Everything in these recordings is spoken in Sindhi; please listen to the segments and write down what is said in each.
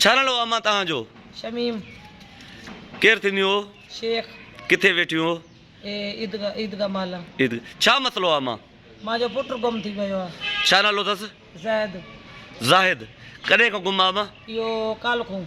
ڇا نالو اما تهان جو شميم ڪير ٿينديون هو شيخ ڪٿي ويٺيون هو عيدگاهه عيدگاهه مالا عيد ڇا مسئلو آ اما مان جو پٽ گم ٿي ويو آ ڇا نالو اٿس زاهد زاهد ڪڏهن کان گم آ اما اهو ڪالهه کون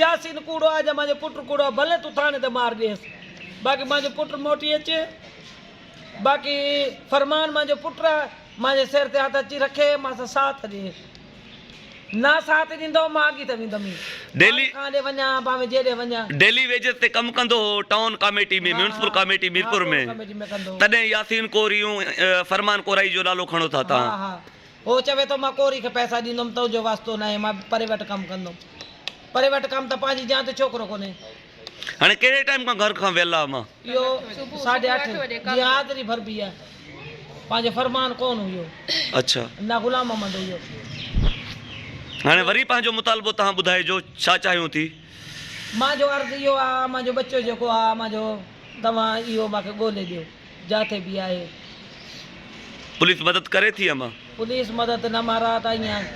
ياسين ڪوڙو آ جا مانجو پٽ ڪوڙو آ ڀلي تون ٿاڻي تي مار ڏيس باقي مانجو پٽ موٽي اچي باقي فرمان مانجو پٽ آ مانجي سر تي هٿ اچي رکي مان سان ساٿ ڏي نه ساٿ ڏيندو مان اڳي ته ويندم ئي ڊيلي کان ڏي وڃان باوي جيڏي وڃان. ڊيلي ويجز تي ڪم ڪندو هو town committee ۾ municipal committee Mirpur ۾ تڏهن ياسين ڪوريون فرمان ڪورائي جو نالو کڻو ٿا تان. هو چوي ٿو، مان ڪوري کي پئسا ڏيندوم، تنهنجو واسطو ناهي، مان به پري وٽ ڪم ڪندوم. پري وٽ ڪم ته پنهنجي جيان ته ڇوڪرو ڪونهي. هاڻي ڪهڙي ٽائيم کان گهر کان ويلا امان؟ اهو ساڍي اٺ جي حاضري ڀربي آ. پنهنجو فرمان ڪونه هيو. اڇا. نه غلام محمد هيو. هاڻي وري پنهنجو مطالبو توهان ٻڌائجو، ڇا چاهيون ٿي؟ مان جو عرض اهو آ، امان جو ٻچو جيڪو آ، امان جو توهان اهو مان کي ڳولي ڏيو. جا تي بيهائي. پوليس مدد ڪري ٿي ام. پوليس مدد نه مهراء ته ائين آهي.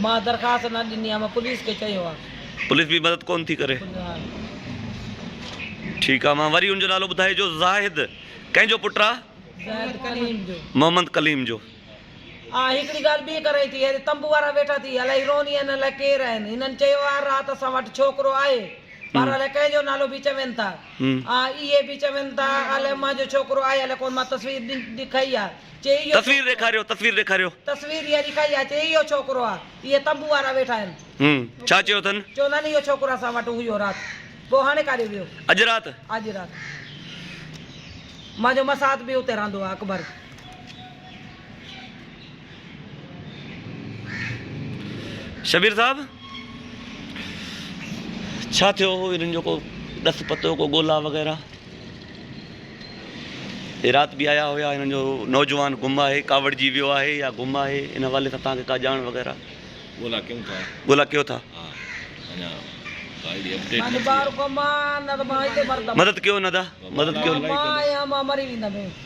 مان درخواست نه ڏني ام پوليس کي چيو آهي. پوليس به مدد ڪونه ٿي ڪري. ٺيڪ آهي مان وري ان جو نالو ٻڌائي جو زاهد ڪنهن جو پٽ آهي. زاهد ڪليم جو. محمد ڪليم جو. آء هڪڙي ڳالهه ٻي ڪرئي ٿي هيڏي تنبو وارا ويٺا ٿي الائي هي روهن هين الائي ڪير آهن هنن چيو آهي رات اسان وٽ ڇوڪرو آهي پر الائي ڪنهن جو نالو به چوين ٿا. ها اهي به چون ٿا الاء منهنجو ڇوڪرو آهي الاء ڪون مان تصوير ڏکئي آ چي اهو تصوير ڏيکاريو تصوير ڏيکاريو. تصوير اها ڏکئي آ چي اهو ڇوڪرو آ اهي تنبو وارا ويٺا آهن. هم ڇا چيو اٿن؟ چون ٿا نه اهو ڇوڪرو اسان وٽ هيو رات پوء هاڻي ڪاڏي ويو؟ اڄ رات؟ اڄ رات منهنجو مساهات به اتي رهندو آ اڪبر. شبير صاحب ڇا ٿيو هو انهن جو ڪو ڏس پتو ڪو ڳولا وغيره هي رات به آيا هيا هنن جو نوجوان گم آهي ڪاوڙجي ويو آهي يا گم آهي ان حوالي سان توهان کي ڪا ڄاڻ وغيره ڳولا ڪيون ٿا ڳولا ڪيو ٿا مدد ڪيو ندا مدد ڪيو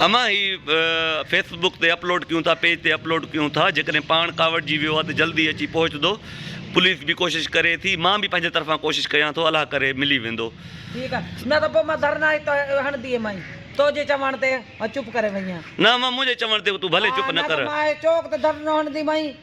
امان هي فيس بڪ تي اپلوڊ ڪيون ٿا پيج تي اپلوڊ ڪيون ٿا جيڪڏهن پاڻ ڪاوڙجي ويو آهي ته جلدي اچي پهچدو پوليس به ڪوشش ڪري ٿي مان به پنهنجي طرفان ڪوشش ڪيان ٿو الله ڪري ملي ويندو. نه امان منهنجي چوڻ تي تون ڀلي چپ نه ڪر.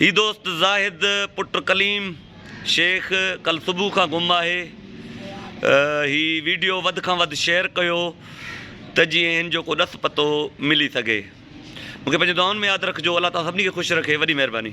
هي دوست زاهد پٽ ڪليم شيخ ڪل صبح کان گم آهي هي ويڊيو وڌ کان وڌ شيئر ڪيو ته جيئن هن جو ڪو ڏس پتو ملي سگهي مونکي پنهنجي دعائن ۾ ياد رکجو الله تعالي سڀني کي خوش رکي وڏي مهرباني